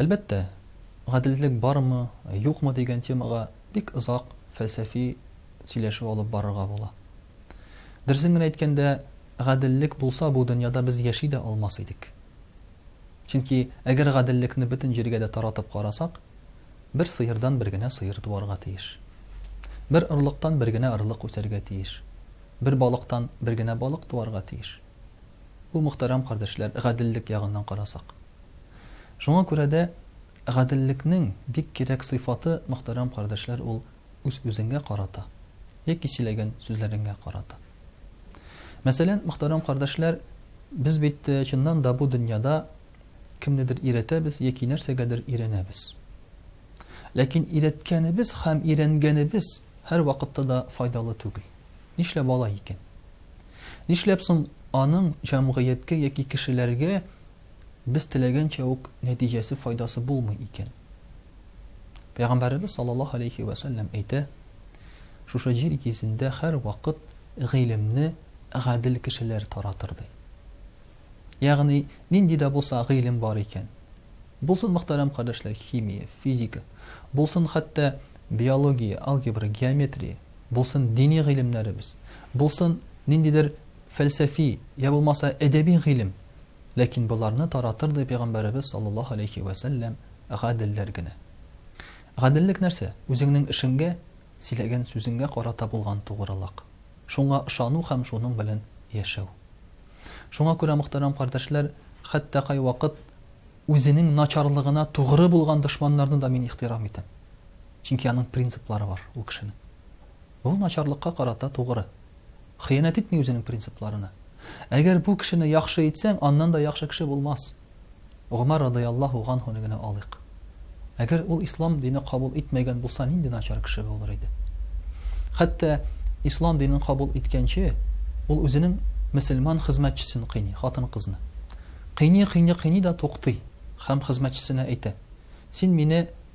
Әлбәттә, гаделлек бармы, юкмы дигән темага бик озак фәлсәфи сөйләшү алып барырга була. Дөресен генә әйткәндә, гаделлек булса, бу дөньяда без яши дә алмас идек. Чөнки әгәр гаделлекне бөтен җиргә дә таратып карасак, бер сыердан бер генә сыер туарга тиеш. Бер орлыктан бер генә орлык үсәргә тиеш. Бер балыктан бер генә балык туарга тиеш. Бу, мөхтәрәм кардәшләр, гаделлек ягыннан карасак. Шуңа күрә дә гаделлекнең бик кирәк сыйфаты, мөхтәрәм кардәшләр, ул үз-үзеңгә карата яки сөйләгән сүзләреңә карата. Мәсәлән, мөхтәрәм кардәшләр, без бит чыннан да бу дөньяда кемнедер өйрәтәбез яки нәрсәгәдер өйрәнәбез. Ләкин өйрәткәнебез һәм өйрәнгәнебез һәрвакытта да файдалы түгел. Нишләп алай икән? Нишләп соң аның җәмгыятькә яки кешеләргә без теләгәнчә үк нәтиҗәсе, файдасы булмый икән? Пәйгамбәребез саллаллаһу алейхи вә сәлләм әйтә, шушы җир йөзендә һәрвакыт гыйлемне гадел кешеләр таратыр ди. Ягъни, нинди дә булса гыйлем бар икән, булсын мөхтәрәм кардәшләр химия, физика, булсын хәтта биология, алгебра, геометрия, булсын дини гыйлемнәребез, булсын ниндидер фәлсәфи, я булмаса әдәби гыйлем, ләкин боларны таратыр ди пәйгамбәребез саллаллаһу алейхи вә сәлләм гаделләр генә. Гаделлек нәрсә? Үзеңнең эшеңгә, сөйләгән сүзеңгә карата булган тугрылык. Шуңа ышану һәм шуның белән яшәү. Шуңа күрә мөхтәрәм кардәшләр, хәтта кайвакыт үзенең начарлыгына тугры булган дошманнарны да мин ихтирам итәм. Чөнки аның принциплары бар ул кешенең. Ул начарлыкка карата тугры. Хыянәт итми үзенең принципларына. Әгәр бу кешене яхшы итсәң, аннан да яхшы кеше булмас. Гомар радыяллаһу анхуны генә алыйк. Әгәр ул ислам дине кабул итмәгән булса, нинди начар кеше булыр иде? Хәтта ислам динен кабул иткәнче, ул үзенең мөселман хезмәтчесен кыйни, хатын-кызны. Кыйни, кыйни, кыйни да туктый һәм хезмәтчесенә әйтә: "Син мине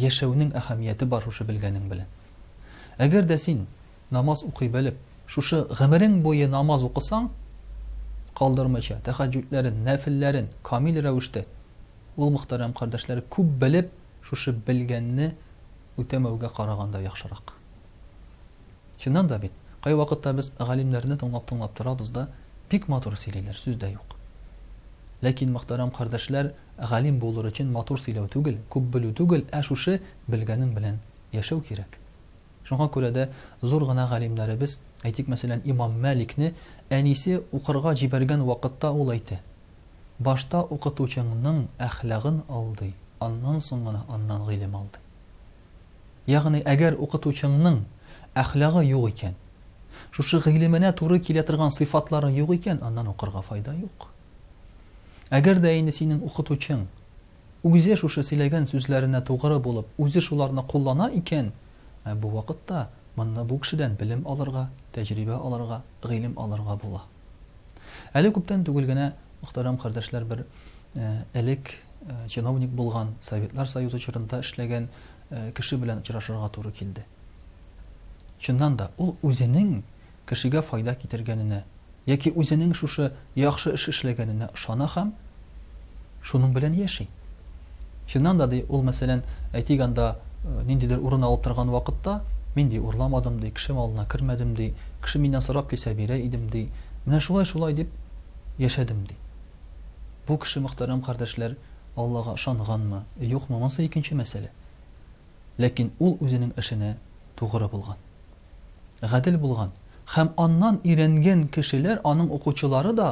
Яшәүнең әһәмияте бар шушы белгәнең белән. Әгәр дә син намаз укый белеп, шушы гомерең буе намаз укысаң, калдырмыйча, тәхәҗҗүдләрен, нәфелләрен камил рәвештә, ул, мөхтәрәм кардәшләр, күп белеп, шушы белгәнне үтәмәүгә караганда яхшырак. Чыннан да бит, кайвакытта без галимнәрне тыңлап-тыңлап торабыз да, бик матур сөйлиләр, сүз дә юк. Ләкин, мөхтәрәм кардәшләр, галим булыр өчен матур сөйләү түгел, күп белү түгел, ә шушы белгәнең белән яшәү кирәк. Шуңа күрә дә зур гына галимнәребез, әйтик, мәсәлән, имам Мәликне әнисе укырга җибәргән вакытта ул әйтә, Башта укытучыңның әхлагын алдый, аннан соң гына аннан гыйлем алдый. Ягъни, әгәр укытучыңның әхлагы юк икән, шушы гыйлеменә туры килә торган сыйфатлары юк икән, аннан укырга файда юк. Әгәр дә инде синең укытучың үзе шушы сөйләгән сүзләренә тугры булып, үзе шуларны куллана икән, ә бу вакытта монда бу кешедән белем алырга, тәҗрибә алырга, гыйлем алырга була. Әле күптән түгел генә, мөхтәрәм кардәшләр, бер элек чиновник булган, Советлар Союзы чорында эшләгән кеше белән очрашырга туры килде. Чыннан да, ул үзенең кешегә файда китергәненә, яки үзенең шушы яхшы эш эшләгәненә ышана һәм шуның белән яши. Чыннан да, ди, ул, мәсәлән, әйтик анда э, ниндидер урын алып торган вакытта, мин, ди, урламадым, ди, кеше малына кермәдем, ди, кеше миннән сорап килсә бирә идем, ди, менә шулай-шулай дип яшәдем, ди. Бу кеше, мөхтәрәм кардәшләр, Аллага ышанганмы, юкмы, монысы икенче мәсьәлә. Ләкин ул үзенең эшенә тугры булган. Гадел булган. Һәм аннан өйрәнгән кешеләр, аның укучылары да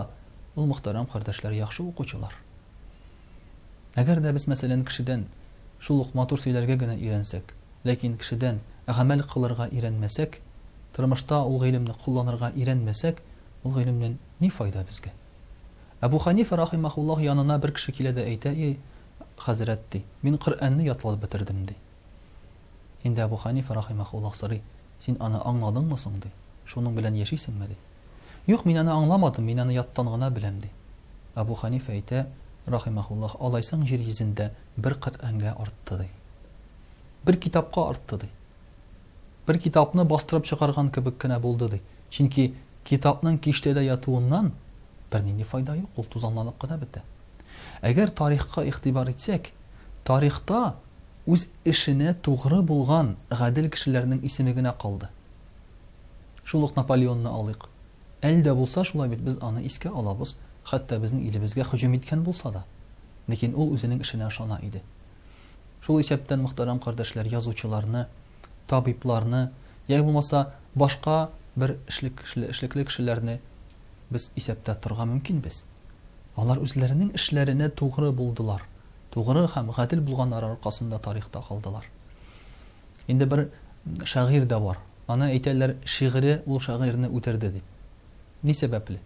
Ул мөхтәрәм кардәшләр яхшы укучылар. Әгәр дә без, мәсәлән, кешедән шул ук матур сөйләргә генә өйрәнсәк, ләкин кешедән гамәл кылырга өйрәнмәсәк, тормышта ул гыйлемне кулланырга өйрәнмәсәк, ул гыйлемнән ни файда безгә? Әбу Хәнифә рахимаһуллаһ янына бер кеше килә дә әйтә, И, хәзрәт, ди, мин Коръәнне ятлап бетердем, ди. Инде Әбу Хәнифә рахимаһуллаһ сорый, Син аны аңладыңмы соң, ди, шуның белән яшисеңме, ди. Юк, мин аны аңламадым, мин аны яттан гына беләм, ди. Әбу Хәнифә әйтә, рахимаһуллаһ, Алайсаң, җир йөзендә бер Коръәнгә артты, ди. Бер китапка артты, ди. Бер китапны бастырып чыгарган кебек кенә булды, ди. Чөнки китапның киштәдә ятуыннан бернинди файда юк, ул тузанланып кына бетә. Әгәр тарихка игътибар итсәк, тарихта үз эшенә тугры булган гадел кешеләрнең исеме генә калды. Шул ук Наполеонны алыйк. Әле дә булса шулай бит, без аны искә алабыз, хәтта безнең илебезгә һөҗүм иткән булса да. Ләкин ул үзенең эшенә ышана иде. Шул исәптән, мөхтәрәм кардәшләр, язучыларны, табибларны, яи булмаса, башка бер эшлекле кешеләрне без исәптә торырга мөмкинбез. Алар үзләренең эшләренә тугры булдылар, тугры һәм гадел булганнары аркасында тарихта калдылар. Инде бер шагыйрь дә бар. Аны әйтәләр, шигыре ул шагыйрьне үтерде дип. Ни сәбәпле?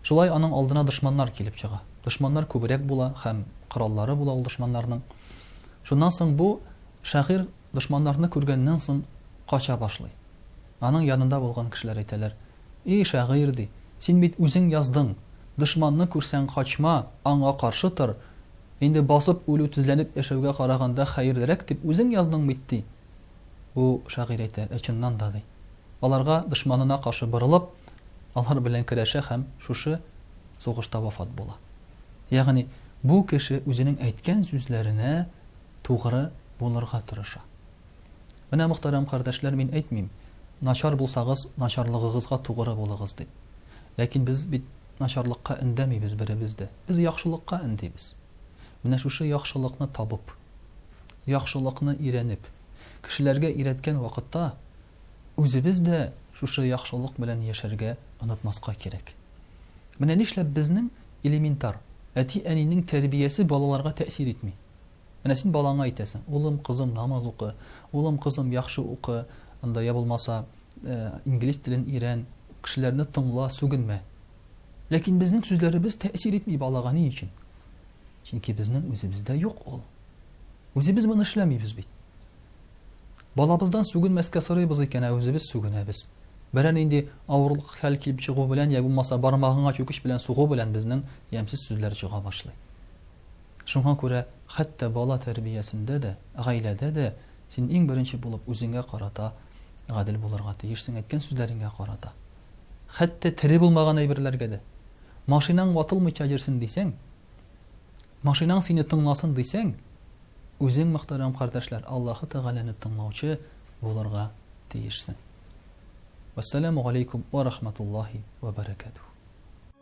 Шулай аның алдына дошманнар килеп чыга. Дошманнар күбрәк була һәм кораллары була ул дошманнарның. Шуннан соң бу шагыйрь дошманнарны күргәннән соң кача башлый. Аның янында булган кешеләр әйтәләр, И шагыйрь, ди, син бит үзең яздың, Дошманны күрсәң, качма, аңа каршы тор, Инде басып үлү тезләнеп яшәүгә караганда хәерлерәк дип үзең язның бит, ди. Бу шагыйрь әйтә, ә чыннан да, ди. Аларга, дошманына каршы борылып, алар белән көрәшә һәм шушы сугышта вафат була. Ягъни, бу кеше үзенең әйткән сүзләренә тугры булырга тырыша. Менә, мөхтәрәм кардәшләр, мин әйтмим, начар булсагыз, начарлыгыгызга тугры булыгыз дип. Ләкин без бит Начарлыкка өндәмибез беребез дә. Без яхшылыкка өндибез. Менә шушы яхшылыкны табып, яхшылыкны өйрәнеп, кешеләргә өйрәткән вакытта, үзебез дә шушы яхшылык белән яшәргә онытмаска кирәк. Менә нишләп безнең элементар, әти-әнинең тәрбиясе балаларга тәэсир итми. Менә син балаңа әйтәсең, улым, кызым, намаз укы, улым, кызым, яхшы укы, анда я булмаса, э, инглиз телен өйрән, кешеләрне тыңла, сүгенмә. Ләкин безнең сүзләребез тәэсир итми балага ни өчен? Чөнки безнең үзебездә юк ул. Үзебез моны эшләмибез бит. Балабыздан сүгенмәскә сорыйбыз икән, ә үзебез сүгенәбез. Берәр нинди авырлык хәл килеп чыгу белән, я булмаса бармагыңа чүкеч белән сугу белән безнең ямьсез сүзләр чыга башлый. Шуңа күрә хәтта бала тәрбиясендә дә, гаиләдә дә син иң беренче булып үзеңә карата гадел булырга тиешсең, әйткән сүзләреңә карата. Хәтта тере булмаган әйберләргә дә. Машинаң ватылмыйча йөрсен дисәң, машинаң сине тыңласын дисәң, үзең, мөхтәрәм кардәшләр, Аллаһы Тәгаләне тыңлаучы булырга тиешсең. Вәссәламу галәйкүм вә рахматуллаһи вә бәрәкәтүһ.